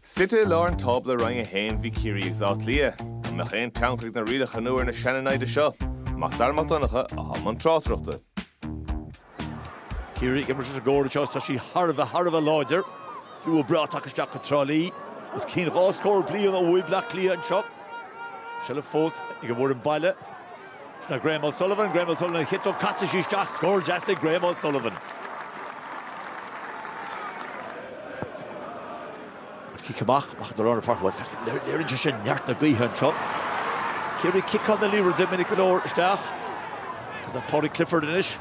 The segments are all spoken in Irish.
Suite i lár an tábla i Roinn 1 bhí Ciarraí agus Áth Cliath. An mbeadh aon tionchar ag na rialacha nua ar na seaniomaitheoirí seo? Mac Dara Mac Donncha, atá i mbun tráchtaireachta. Ciarraí ag imirt leis an gcóir seo agus tá sí thar a bheith thar a bheith láidir. Slua breá tagtha isteach go Trá Lí. Os cionn dhá scór bliain ó bhuaigh Baile Átha Cliath anseo. Seilbh fós ag an bhfoireann baile. Seo é Graham O'Sullivan, Graham O'Sullivan ar a chiotóg, casadh sise isteach, scór deas ag Graham O'Sullivan. An cic amach, amach do Ronan Farquhar, bhuel, léirionn sé sin neart na gaoithe anseo. Ciarraí ag ciceáil na liathróide minic go leor isteach. Sin do Paudie Clifford anois.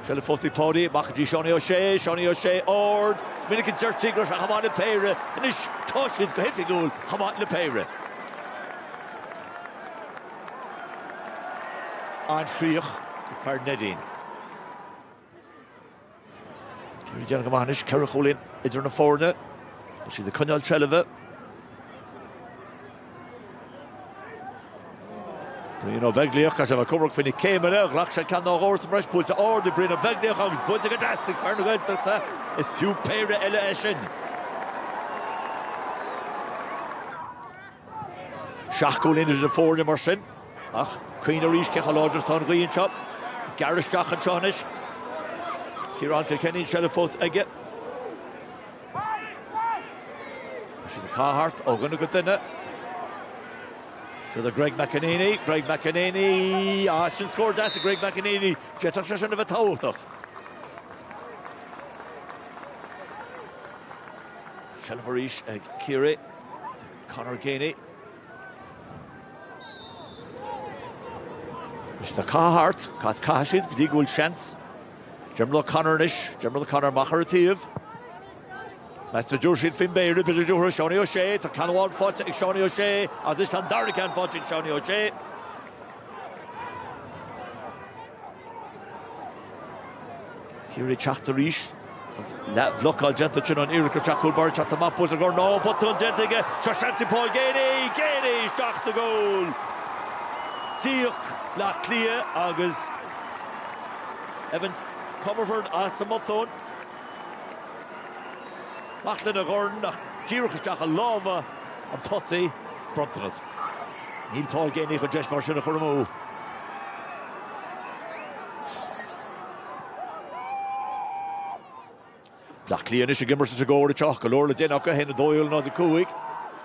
Seilbh fós ag Páidí, amach go dtí Seánie O'Shea, Seánie O'Shea, ard, is minic a deirtí go raibh sé chomh maith le péire, anois tá siad go hoifigiúil chomh maith le péire. An chríoch ag fear Neidín. Ciarraí ag déanamh go maith anois ceithre chúilín idir na foirne? Tá siad ag coinneáil seilbhe. Brian Ó Beaglaoich, ach sé ag comhaireamh faoi na céimeanna, ghlac sé ceann nó dhó sa mbreis buailte ard ag Brian Ó Beaglaoich agus buailte go deas ag fear na Gaeltachta, is fiú péire eile é sin. Seacht gcúilín idir na foirne mar sin, ach cuimhnigh arís cé chomh láidir atá an ghaoth anseo. Gearradh isteach anseo anois. Ciarán Kilkenny an seilbh fós aige. Tá siad á caitheamh thart ó dhuine go duine. Siar go Greg McEneaney, Greg McEneaney, ah, sin scór deas ag Greg McEneaney, d'fhéadfadh sé sin a bheith tábhachtach. Seilbh arís ag Ciarraí. Conor Geaney. Is tá siad á caitheamh thart, caith is caithfidh siad go dtí go bhfuil seans. Diarmuid O'Connor anois, Diarmuid O'Connor amach ar an taobh. Meas tú an dtabharfaidh siad faoin bpéire, b'fhéidir go dtabharfadh Seánie O'Shea, tá ceann amháin faighte ag Seánie O'Shea agus anois tá an dara ceann faighte ag Seánie O'Shea. Ciarraí ag teacht arís. Leathbhlocáil déanta ansin ar an iarracht, sa chúl, ag teacht amach, bhuel go raibh botún déanta aige, seo seans ag Paul Geaney, Geaney isteach sa gcúl. D'íoc Baile Átha Cliath agus Evan Comerford as an mbotún. Amach lena dhorn ach díreach isteach i lámha an tosaigh, bronntanas. Níl Paul Geaney chun deis mar sin a chur amú. Bleá Cliath anois ag imirt i gcoinne na cóire seo. Go leor le déanamh acu, 1-12 in aghaidh 0-5.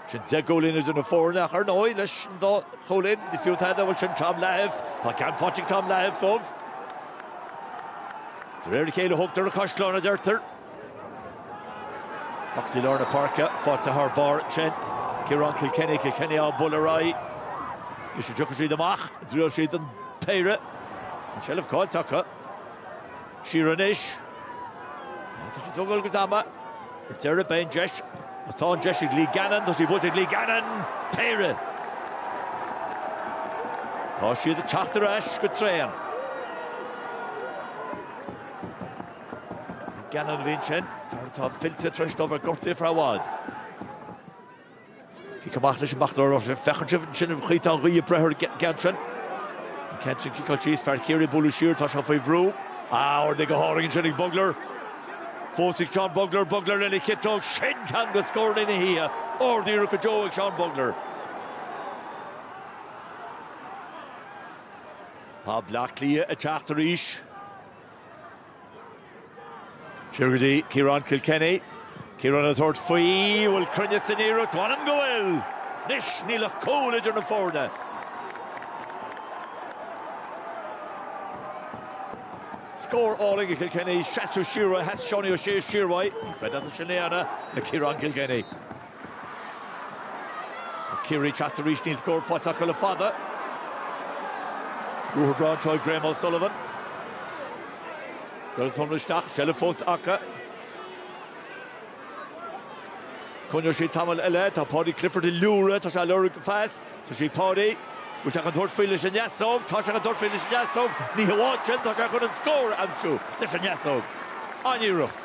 Sin deich gcúilín idir na foirne ach ar ndóigh leis an dá chúilín ní fiú tada, bhuel sin Tom Lahiff. Tá ceann faighte ag Tom Lahiff dóibh. De réir a chéile a thógtar na caisleáin, a deirtear. Amach go dtí lár na páirce faighte thar barr ansin. Ciarán Kilkenny, Kilkenny á bualadh ar aghaidh. Anois an dtiocfaidh siad amach, an dtriailfidh siad an péire. An tseilbh caillte acu. Siar anois. Ag tógáil a gcuid ama. Ar deireadh beidh an deis. Agus tá an deis ag Lee Gannon. Tá sí buailte ag Lee Gannon. Péire! Tá siad ag teacht ar ais go tréan. Gannon a bhí ansin, fear atá fillte tar éis dó a bheith gortaithe ar feadh i bhfad. Cic amach leis amach i lár, feiceann sibh ansin an chaoi atá an ghaoth ag breith air go han-tréan. An ceann sin ciceáilte thíos, fear Chiarraí á bualadh siar, tá sé faoi bhrú. Ah, ardaithe go hálainn ansin ag Bugler. Fós ag Seán Bugler, Bugler lena chiotóg, sin ceann de scórtha na hoíche, ardiarracht go deo ag Seán Bugler. Tá Bleá Cliath ag teacht arís. Siar go dtí Ciarán Kilkenny. Ciarán ag tabhairt faoi, bhfuil cruinneas san iarracht, m'anam go bhfuil! Anois níl ach cúl idir na foirne. Scór álainn ag Kilkenny, seasadh siar uaidh, sheas Seánie Ó Sé siar uaidh, ní féidir leat é sin a dhéanamh le Ciarán Kilkenny. Ciarraí ag teacht arís, níl scór faighte acu le fada. Ruathar breá anseo ó Graham O'Sullivan. Cuireadh sonraí isteach, seilbh fós acu. Coinneoidh siad tamall eile, tá Paudie Clifford ag liúireach, tá sé á lorg go fras. Tá sí ag Paudie. Bhfuil sé chun tabhairt faoi leis an neasóg? Tá sé chun tabhairt faoi leis an ndeasóg. Ní hamháin sin, tá sé chun an scór a aimsiú leis an ndeasóg. An-iarracht!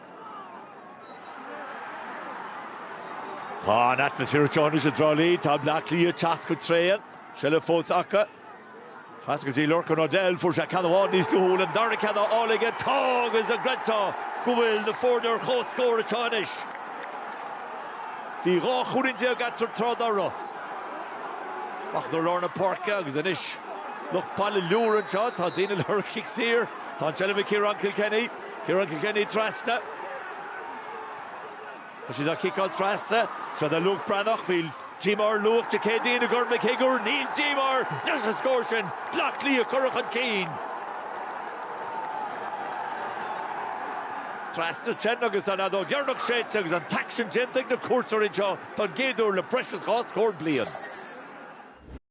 Tá an-atmaisféar go deo anois i dTrá Lí, tá Bleá Cliath ag teacht go tréan. Seilbh fós acu. Trasna go dtí Lorcan O'Dell, fuair sé ceann amháin níos luaithe, bhfuil an dara ceann á fháil aige? Tá agus an gcreidfeá go bhfuil na foirne ar chomhscór anseo anois. Bhí dhá chúilín déag eatarthu tráth dá raibh. Bugler lár na páirce agus anois lucht baile ag liúireach anseo, tá daoine ag lorg cic saor, tá an tseilbh ag Ciarán Kilkenny. Ciarán Kilkenny trasna. Tá siad á ciceáil trasna. Seo do Luke Breathnach. Bhí díomá ar Luke Dé Céadaoin i gCorn Mhic Shigiúir. Níl díomá air leis an scór sin. Bleá Cliath curtha chun cinn. Trasna ansin agus an fheadóg dheireanach séidte agus an t-aicsean déanta ag na cuairteoirí anseo don gcéad uair le breis is dhá scór bliain.